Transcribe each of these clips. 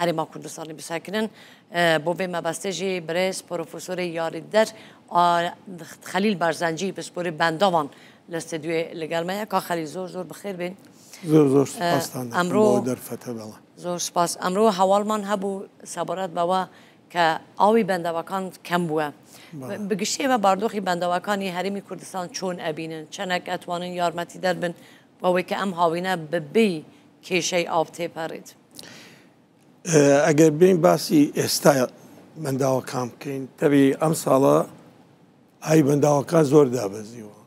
هەرێما کوردستانی بسەکنن بۆ بێ مەبەستێژی برێز پۆرۆفۆسۆرێ یاریدەر خەلیل بارزانجی پسپۆری بەنداوان لە ستدیوێ لەگەرمەیە کا خەلی زۆر زۆر بخێر بێن زۆر زۆر ئەمرۆ دەرفەتە بەڵە زۆر سپاس ئەمرۆ هەواڵمان هەبوو سەبارەت بەوە کە ئاوی بەندەوەکان کەم بووە بگشتێمە باردۆخی بەندەوەکانی هەرمی کوردستان چۆن ئەبینن چەنەک ئەتوانن یارمەتی دەربن بەوەی کە ئەم هاوینە ببی کێشەی ئاو تێپەڕێت. ئەگەر بێن باسی ئێستا بەنداوەکان بکەین تەبی ئەم ساڵە ئای بەنداوەکان زۆر دابەزیوە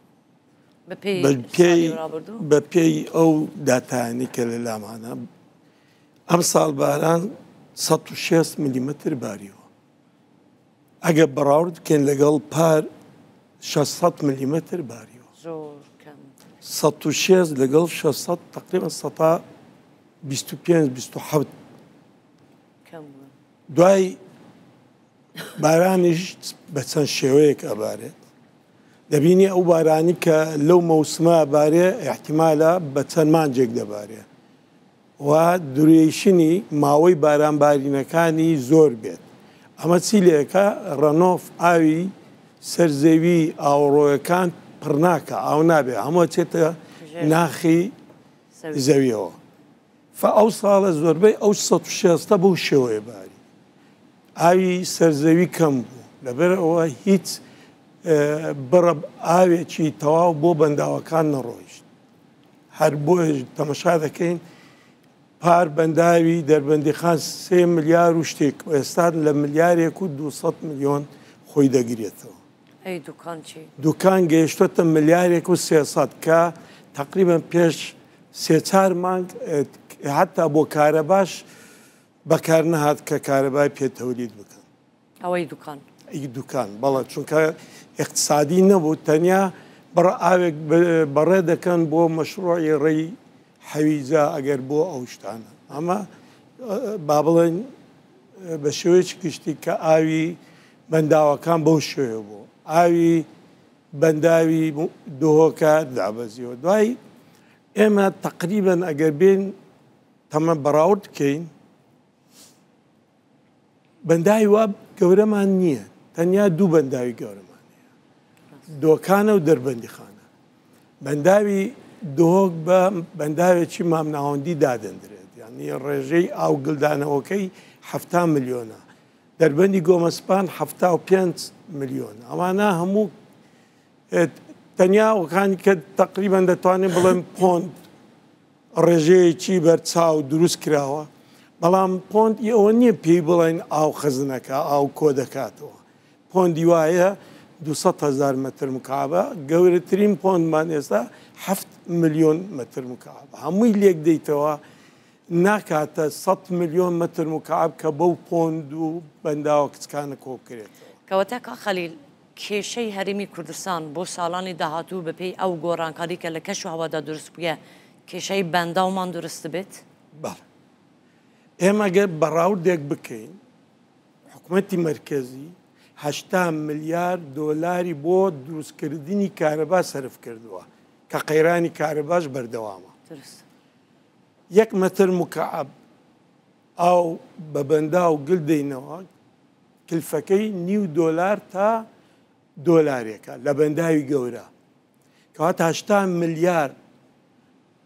بە پێی ئەو داتانی کە لە لامانە ئەم ساڵ باران 16 میلیمتر باریوە ئەگەر بەڕاورد بکەین لەگەڵ پار شەش سەد ملیمەتر باریوە زۆر کەم سەد و شێست لەگەڵ شەش سەد تقریبا سەتا بیست و پێنج بیست و حەوت کەم بوون. دوای بارانیش بە چەند شێوەیەک ئەبارێت دەبینی ئەو بارانی کە لەو مەوسمە بارێ احتیمالە بە چەند مانجێک دەبارێ و دورێیشنی ماوەی باران بارینەکانی زۆر بێت ئەمە چی لەکە ڕەنۆف ئاوی سەر زەوی ئاوەڕۆیەکان پڕناکا ئاو نابێ هەموو ئەچێتە ناخی زەویەوە فە ئەو ساڵە زۆربەی ئەو سە شێستە بەو شێوەیە باری ئاوی سەرزەوی کەم بوو لەبەر ئەوە هیچ بڕە ئاوێکی تەواو بۆ بەنداوەکان نەڕۆیشت هەر بۆیەش تەمەشا دەکەین پار بەنداوی دەربەندیخان سێ ملیار و شتێک و ئێستان لە ملیارێک و 200 ملیۆن خۆی دەگرێتەوە دوکان گەیشتوتە ملیارێک و سێسەد کە تقریبان پێش سێچار مانگ حتا بۆ کارە باش بەکار نەهات کە کارەبای پێتەولیت بکەن. ئەوەی دوکان ئی دوکان بەڵە چونکە اقتصادی نەبوو تەنیا بڕ ئاوێک بەڕێ دەکەن بۆ مەشروعی ڕێی حەویجا ئەگەر بۆ ئەو شتانە ئەمە با بڵێن بە شێوەیەکی گشتی کە ئاوی بەنداوەکان بەو شوێ بوو ئاوی بەنداوی دۆهۆکە دابەزیەوە دوای ئێمە تقریبن ئەگەر بین تەمە بەراورد بکەین بەنداوی وا گەورەمان نییە تەنیا دوو بەنداوی گەورەمان هەیە دۆکانە و دەربەندی خانە بەنداوی دۆک بە بەنداوێکی مامناوەندی دادەندرێت یعنی ڕێژەی ئاو گلدانەوەکەی ه ملیۆنە دەربەندی گۆمەسپان ه میلیۆن ئەوانە هەموو تەنیا وکانی کە تقریبان دەتوانین بڵێن پۆند ڕێژەیەکی بەرچاو دروست کراوە، بەڵام پۆندی ئەوە نییە پێی بڵێین ئاو خزنەکە، ئاو کۆ دەکاتەوە، پۆندی وایە دوو سەد هەزار مەتر مکعبە، گەورەترین پۆندمان ئێستا حەفت ملیۆن مەتر مکعبە، هەمووی لێک دەیتەوە ناکاتە سەد ملیۆن مەتر مکعب کە بەو پۆند و بەنداوە کچکانە کۆ بکرێتەوە. کەواتە کاک خەلیل کێشەی هەرێمی کوردستان بۆ ساڵانی داهاتوو بە پێی ئەو گۆڕانکاری کە لە کەش و هەوادا دروست بوویە کێشەی بەنداومان دروست دەبێت؟ بەڵێ. ئێمە گەر بەڕاوردێک بکەین، حکومەتی مەرکەزی هەشتا ملیار دۆلاری بۆ دروستکردنی کارەبا سەرف کردووە کە قەیرانی کارەباش بەردەوامە. دروست. یەک مەتر مکەعەب ئاو بە بەنداو گل دەینەوە. کلفەکەی نیو دۆلار تا دۆلارێکە لە بەنداوی گەورە کەواتە هەشتا ملیار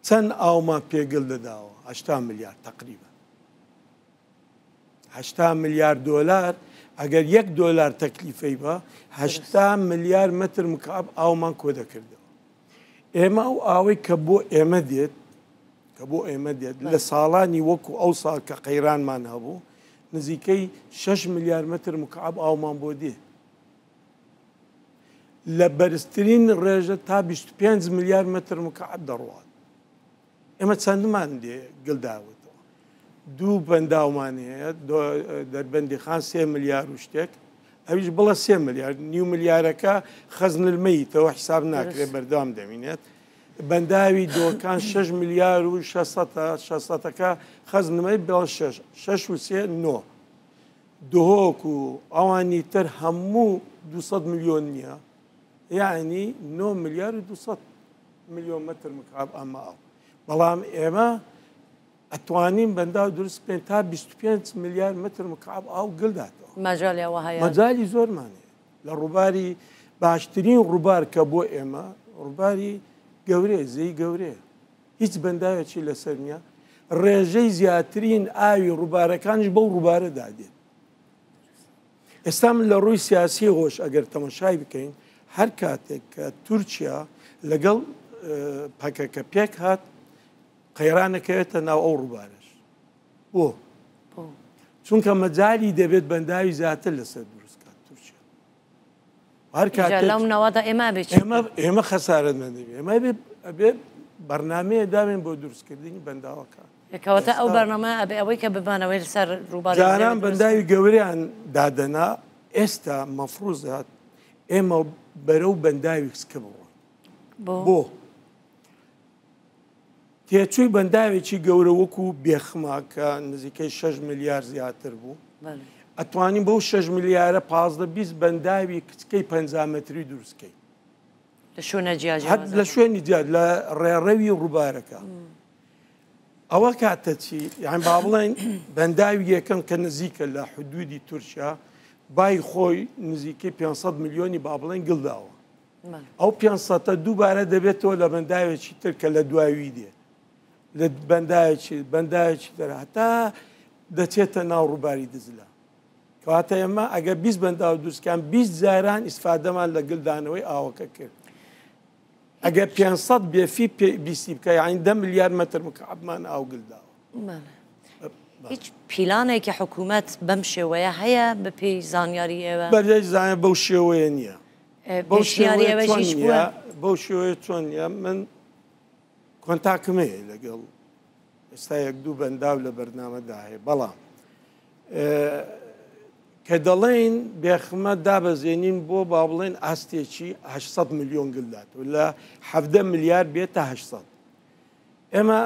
چەند ئاومان پێ گل دەداوە هەشتا ملیار تقریبا هەشتا ملیار دۆلار ئەگەر یەک دۆلار تەکلیفەی بە هەشتا ملیار متر مکعب ئاومان کۆ دەکردەوە ئێمە ئەو ئاوەی کە بۆ ئێمە دێت کە بۆ ئێمە دێت لە ساڵانی وەکو ئەو ساڵ کە قەیرانمان هەبوو نزیکەی 6 ملیار متر مکعب ئاومان بۆ دێ لە بەرزترین ڕێژە تا 25 ملیار متر مکعب دەڕوات ئێمە چەندمان دێ گل داوەتەوە دوو بەنداومان هەیە دەربەندی خان سێ ملیار و شتێک ئەویش بڵە سێ ملیار نیو ملیارەکە خەزنلمەیتەوە حساب ناکرێت بەردەوام دەمینێت بەنداوی دۆکان 6 ملیار و 600ەکە خەزنمەی بڵ 6 و سێ نۆ دهۆک و ئەوانی تر هەموو 200 میلیۆن نییە یعنی 9 ملیار و 200 ملیۆن مەتر مکعب ئەمە ئاو بەڵام ئێمە ئەتوانین بەنداو دروست بکەین تا 25 ملیار متر مکعب ئاو گلداتەوە مەجالیەوە هەیە مەجای زۆرمانێ لە ڕووباری باشترین ڕووبار کە بۆ ئێمە ڕووباری گەورێ زەی گەورێ هیچ بەنداوێکی لەسەر نییە ڕێژەی زیاترین ئاوی ڕووبارەکانش بەو ڕووبارەدا دێت ئێستا من لە ڕووی سیاسیەوەش ئەگەر تەمەشای بکەین هەر کاتێک کە تورکیا لەگەڵ پەکەکە پێک هات قەیرانەکەوێتە ناو ئەو ڕووبارەش بۆ چونکە مەجای دەبێت بەنداوی زیاتر لەسەر دروستکات تورکیا لەم نەوەدا ئێمە ئێمە خەسارت نەدەبێ ئێمە ئەبێ بەرنمەیە داوێن بۆ دروستکردنی بەنداوەکە کەواتە ئەو بەرنمە ئەبێ ئەوەی کە ببانەوەی لەسەر ڕووباران بەنداوی گەوریان دادەنا ئێستا مەفروزات ئێمە بەرە و بەنداوی کچکە بڕۆن بۆ تێچووی بەنداوێکی گەورە وەکو بێخمە کە نزیکەی 6 ملیار زیاتر بوو ئەتوانین بەو 6 ملیارە پازدە بیست بەنداوی کچکەی پ متری دروستکەی لە شوێنە جیاجات لە شوێنی جیاد لە ڕێڕەوی ڕووبارەکە ئەوە کاتە چی یان با بڵێن بەنداوی یەکەم کە نزیکە لە حدودی تورکیا بای خۆی نزیکەی 500 میلیۆنی با بڵێن گڵداوە ئەو پێنج سەتە دووبارە دەبێتەوە لە بەنداوێکی تر کە لە دواوی دێ لە بەنداوێکی بەنداوێکی تر هەتا دەچێتە ناو ڕووباری دزلە کەواتە ئێمە ئەگە 20 بەنداو دووسکان 20 جاران ئیسفادەمان لە گلدانەوەی ئاوەکە کرد ئەگە 500 بێفی بیسی بکە یاین دە ملیار مەتر مکعبمان ئاو گلداوە هیچ پیلانێکی حکوومەت بەم شێوەیە هەیە بە پێی زانیاری ئێوە بەرێک زانە بەو شێوەیە نییە پێشنیاری ئەوەشیش بووە. بەو شێوەیە چۆن نییە من کۆنتاکم هەیە لەگەڵ ئێستا یەک دوو بەنداو لە بەرنامەدا هەیە بەڵام کە دەڵێن بێخمە دابەزێنین بۆ با بڵێن ئاستێکی 800 میلیۆن گلدات و لە 7 میلیارد بێت تا 800 ئێمە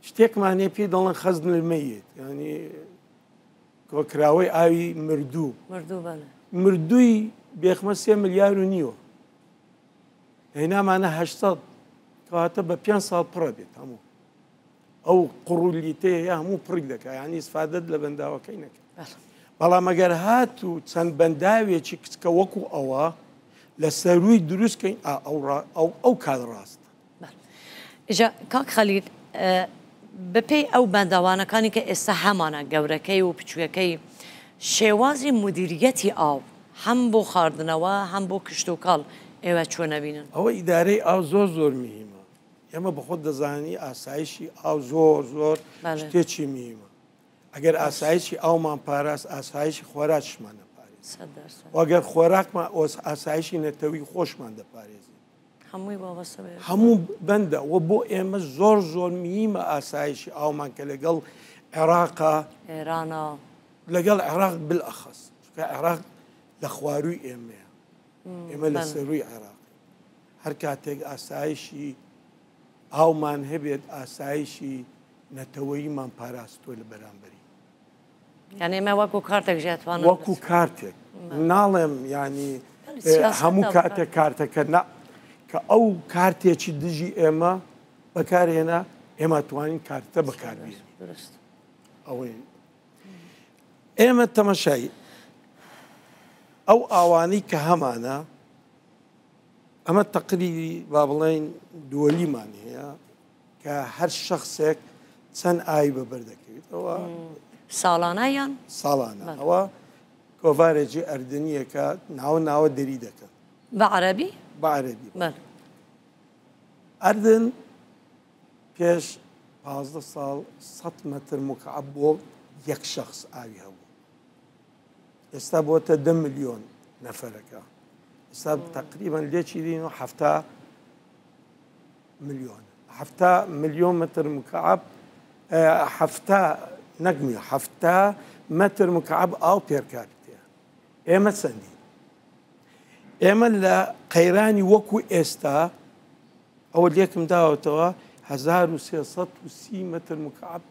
شتێکمانێ پێی دەڵێن خەزنمەیت ینی کۆکراوەی ئاوی مردوو مردوو بەلێ. مردووی بێخمە سێ ملیار و نیوە هێنامانە هەشت سەد کەواتە بە پێنج ساڵ پڕە بێت هەموو ئەو قڕولیتەیە یا هەموو پڕک دەکە ینی سفادت لە بەنداوەکەی نەکرد بەڵێ. بەڵام ئەگەر هات و چەند بەنداوێکی کچکە وەکو ئەوە لە سەرووی دروستکەین ئا ئەو ڕا ئەو ئەو کات ڕاستە. ئیجا کاک خەلیل بەپێی ئەو بەنداوانەکانی کە ئێستا هەمانە گەورەکەی و بچووکەکەی شێوازی مودیریەتی ئاو هەم بۆ خاردنەوە هەم بۆ کشتوکاڵ ئێوە چۆن ئەبینن؟ ئەوە ئیدارەی ئاو زۆر زۆر مهیمە ئێمە بەخۆت دەزانی ئاسایشی ئاو زۆر زۆر شتێکی مهیمە ئەگەر ئاسایشی ئاومان پاراست ئاسایشی خۆراکشمان دەپارێزین وەگەر خۆراکمان ئاسایشی نەتەوی خۆشمان دەپارێزین هەمووی وابەستە بە یەکەوە. هەموو بەندە وە بۆ ئێمە زۆر زۆر میمە ئاسایشی ئاومان کە لەگەڵ عێراقا ئێرانە لەگەڵ عێراق بالئەخەس چونکە عێراق لە خوارووی ئێمەیە ئێمە لە بەڵێ. سەرووی عێراق هەر کاتێک ئاسایشی ئاومان هەبێت ئاسایشی نەتەوەیمان پاراستووە لە بەرامبەری یان ئێمە وەکو کارتێک ژێ توانم وەکو کارتێک ناڵێم ینی هەموو کاتە کارتەکە نە کە ئەو کارتێکی دژی ئێمە بەکارهێنا ئێمە توانین کارتە بەکاربی ئەوەی ئێمە تەمەشای ئەو ئاوانەی کە هەمانە ئەمە تەقریبی با بڵێن دووەلیمان هەیە کە هەر شخصێک چەند ئای بەبەر دەکەویت ئەوە ساڵانە یان ساڵانە ئەوە کۆڤارێکی ئەردنیەکە ناوە ناوە دەری دەکەن بە عەربی بە عەربی ئەردن پێش پازدە ساڵ سە مەتر مکعب بۆ یەک شخص ئاوی هەبوو ئێستا بۆتە دە میلیۆن نەفەرەکە ئێستا تقریبان لێکی دین و هەفتا ملیۆن حەفتا ملیۆن متر مکعب حەفتا نەک ملیۆن حەفتا متر مکعب ئاو پێرکاپیتێ ئێمە چەندی ئێمە لە قەیرانی وەکو ئێستا ئەوە لێکم داوەتەوە 1330 متر مکعب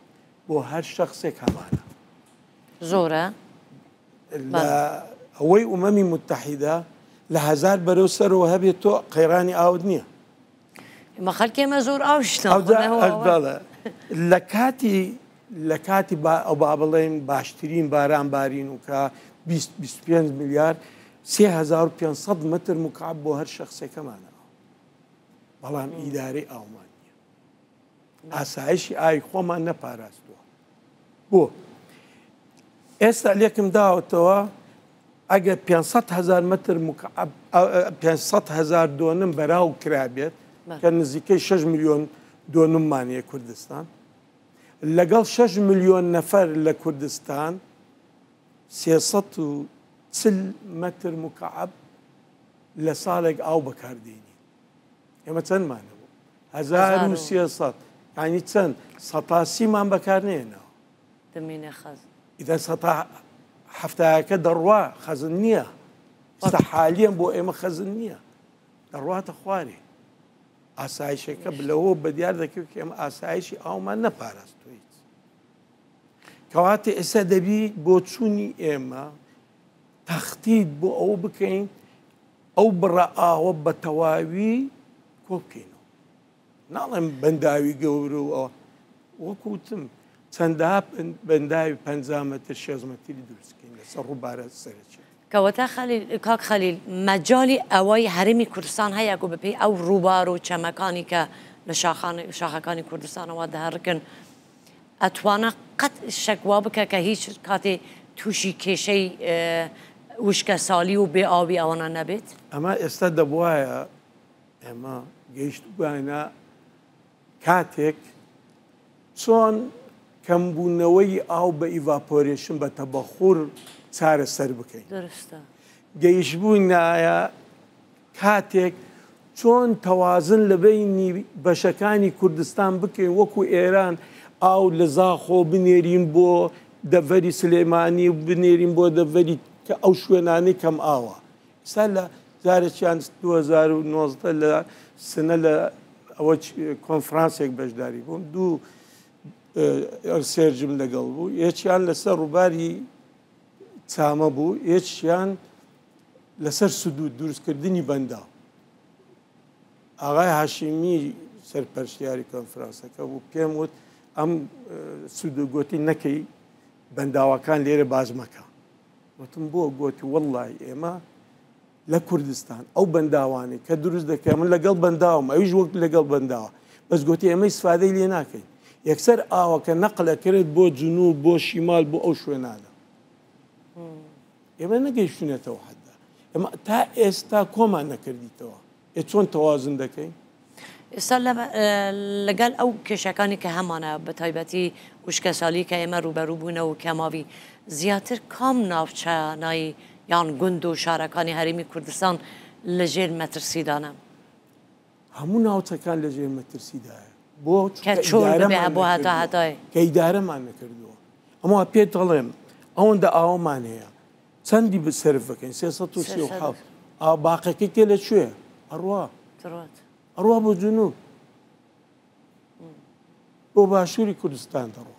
بۆ هەر شخصێک هەمانە زۆرە لە ئەوەی ئومەمی موتەحیدە لە هەزار بەرەو سەرەوە هەبێت تۆ قەیرانی ئاوت نییە. ئمە خەلکێمە زۆر ئاوشتە لە کاتی لە کاتی ئەو با بڵێن باشترین باران بارین و کە 25 میلیارد 3500 متر مکعب بۆ هەر شخصێکەمانەوە بەڵام ئیدارەی ئاومان ئاسایشی ئاوی خۆمان نەپاراستووە بۆ ئێستا لێکم داوەتەوە ئەگەر 500 هزار متر مکعب 500 هزار دۆنم بەراو کرابێت کە نزیکەی 6 میلیۆن دۆنممانە کوردستان لەگەڵ 6 میلیۆن نەفەر لە کوردستان 340 متر مکعب لە ساڵێک ئاو بەکاردێنی ئێمە چەندمان هەبوو هەزار و سێ سەد ینی چەند سەتا سیمان بەکار نێنەوە دەمینە خەز ئیدە سەتا هەفتایەکە دەڕوا خەزن نییە ستا حالیان بۆ ئێمە خەزن نییە دەڕواتە خوارێ ئاسایشەکە بلەوە بە دیار دەکرد ئێمە ئاسایشی ئاومان نەپاراستویت کەواتە ئێستا دەبیت بۆ چوونی ئێمە تەختیت بۆ ئەو بکەین ئەو بڕە ئاوە بە تەواوی کۆ بکەینەوە، ناڵێم بەنداوی گەورە و ئەوە، وەکو وتم چەندەها بەنداوی پەنجا مەتر شێست مەتری دروست بکەین لەسەر ڕووبارە سەرەکییەکە. کەواتە خەلیل، کاک خەلیل مەجالی ئەوەی هەرێمی کوردستان هەیە گۆ بەپێی ئەو ڕووبار و چەمەکانی کە لە شاخانی شاخەکانی کوردستانەوە دهرکن، ئەتوانە قەت شک وا بکە کە هیچ کاتێ تووشی کێشەی وشکە سالی و بێ ئاوی ئەوانە نەبێت؟ ئەمە ئێستا دەبوایە ئێمە گەیشتبووینە کاتێک چۆن کەمبوونەوەی ئاو بە ئیڤاپۆرێشن بە تەبەخور چارەسەر بکەین. دەرستە. گەیشتبووینایە کاتێک چۆن تەوازن لە بەینی بەشەکانی کوردستان بکەین وەکو ئێران ئاو لە زاخۆ بنێرین بۆ دەڤەری سلێمانی و بنێرین بۆ دەڤەری کە ئەو شوێنانی کەم ئاوە ئستا لە جارێکیان 2019 لە سنە لە ئەوە کۆنفرانسێک بەشداری بووم دوو سێرجم لەگەڵ بوو یەکیان لەسەر ڕووباری چامە بوو یەکیان لەسەر سدود دروست کردنی بەنداو ئاغای هاشمی سەرپەرشتیاری کۆنفرانسەکە بوو پێم وت ئەم سود و گوتی نەکەی بەنداوەکان لێرە باز مەکە وتم بۆ گوتی وەڵی ئێمە لە کوردستان ئەو بەنداوانی کە دروست دەکە من لەگەڵ بەنداوم ئەویش وەک لەگەڵ بەنداوە بەس گوتی ئێمەی سفادەی لێ ناکەین یەکسەر ئاوەکە نەقلەکرێت بۆ جنوب بۆ شیمال بۆ ئەو شوێنانە ئێمە نەگەیشتونێتەوە حدا ئەمە تا ئێستا کۆمان نەکردیتەوە ئێ چۆن تەوازن دەکەین ئێستا لەگەل ئەو کێشەکانی کە هەمانە بە تایبەتی وشکە سالی کە ئێمە ڕوبەروو بوونەوە کەماوی زیاتر کام ناوچانایی یان گوند و شارەکانی هەرمی کوردستان لەژێر مەترسیدانە. هەموو ناوچەکان لە ژێر مەترسیدایە بۆ کە ئیدارەمان نەکردووە ئەمە پێت دەڵێم ئەوەندە ئاوەمان هەیە چەندی بسرف بکەین سێ ئاو باقەکەی تێ لە کوێ ئەڕوا ئەڕوا بۆ جنوب بۆ باشووری کوردستان دەڕوە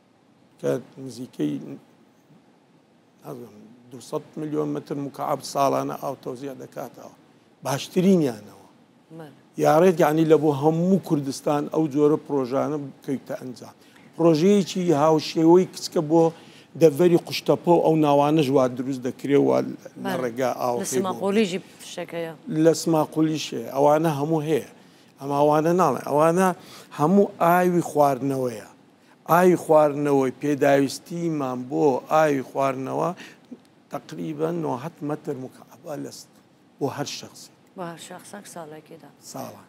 کە نزیکەی دوسەد میلیۆن متر مکعب ساڵانە ئاو تەوزیع دەکاتەوە باشترینیانەوە یاڕێت یعنی لە بۆ هەموو کوردستان ئەو جۆرە پرۆژانە بکەیتە ئەنجام پرۆژەیەکی هاوشێوەی کچکە بۆ دەڤەری قشتەپۆ ئەو ناوانە ژوا دروست دەکرێەوە لە ڕێگا ئاو سماقۆلیژی فشەکەیە لە سماقۆلیشێ ئەوانە هەموو هەیە ئەماوانە ناڵێ ئەوانە هەموو ئاوی خواردنەوەیە ئاوی خواردنەوەی پێداویستیمان بۆ ئاوی خواردنەوە تقریبا نۆهەت مەتر مکعبە لە بۆ هەر شخصی بۆ هەر شخصێک ساڵێکیدا ساڵان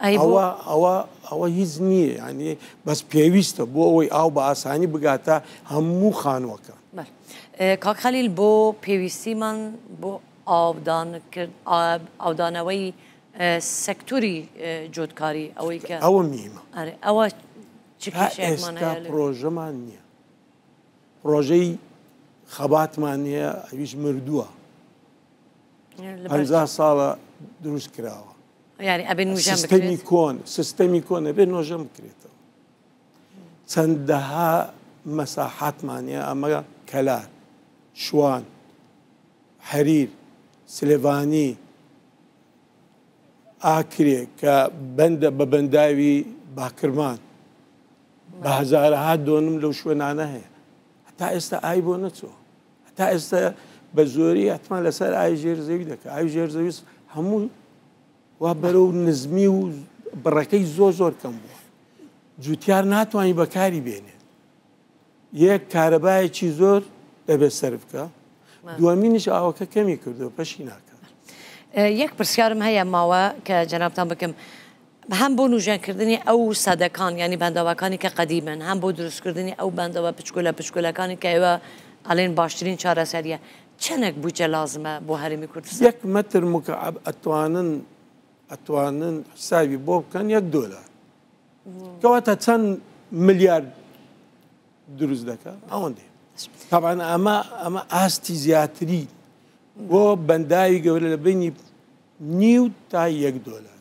ئەوە ئەوە ئەوە هیچ نییە ینی بەس پێویستە بۆ ئەوەی ئاو بە ئاسانی بگاتە هەموو خانووەکە کاکخەلیل بۆ پێویستیمان بۆ ئاودانکرد ئاودانەوەی سەکتوری جۆتکاری ئەوەی کە ئەوە میمە ئەوە ئێستا پرۆژەمان نییە پرۆژەی خەباتمان نیە ئەویش مردووە هەزار ساڵە دروست کراوە سیستەمی کۆن سیستەمی کۆنە بێ نۆژەم بکرێتەوە چەندەها مەساحاتمانە ئەمە کەلار شوان حەریر سلێڤانی ئاکرێ کە بەندە بە بەنداوی باکرمان بە هەزارەها دۆنم لەو شوێنانە هەیە هەتا ئێستا ئای بۆ نەچوە هەتا ئێستا بە زۆری ئەتمان لەسەر ئای ژێر زەوی دەکە ئای ژێر زەویست هەموو وا بەرە و نزمی و بڕەکەی زۆر زۆر کەم بووە جوتیار ناتوانانی بەکاری بێنێت یەک کارەبایەکی زۆر دەبێت سەرف کا دووەمینش ئاوەکە کەمی کردو پەشی ناکە یەک پرسیارم هەیە ماوە کە جەنابتان بکەم هەم بۆ نوژەنکردنی ئەو سەدەکان ینی بەندەواکانی کە قەدیمن هەم بۆ دروستکردنی ئەو بەندەوە پچکولە پچکولەکانی کە ئێوە ئەلێن باشترین چارەسەریە چەندێک بودجە لازمە بۆ هەرمی کوردستان یەک مەتر مکعب ئەتوانن ئەتوانن حسابی بۆ بکەن یەک دۆلار کەواتە چەند ملیارد دروست دەکە ئەوەندێ تاوان ئەمە ئەمە ئاستی زیاتری بۆ بەنداوی گەورە لە بینی نیو تا یەک دۆلار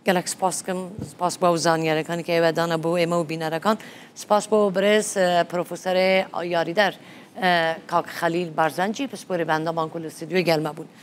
گەلک سپاسکەم سپاس بۆ زانیارەکانی کە ئێوەدانە بۆ ئێمە و بینەرەکان سپاس بۆ برێز پرۆفسەرێ یاریدەر کاک خەلیل بارزانجی پسپۆری بەندەمان کو لە سیدوێ گەرمە بوون.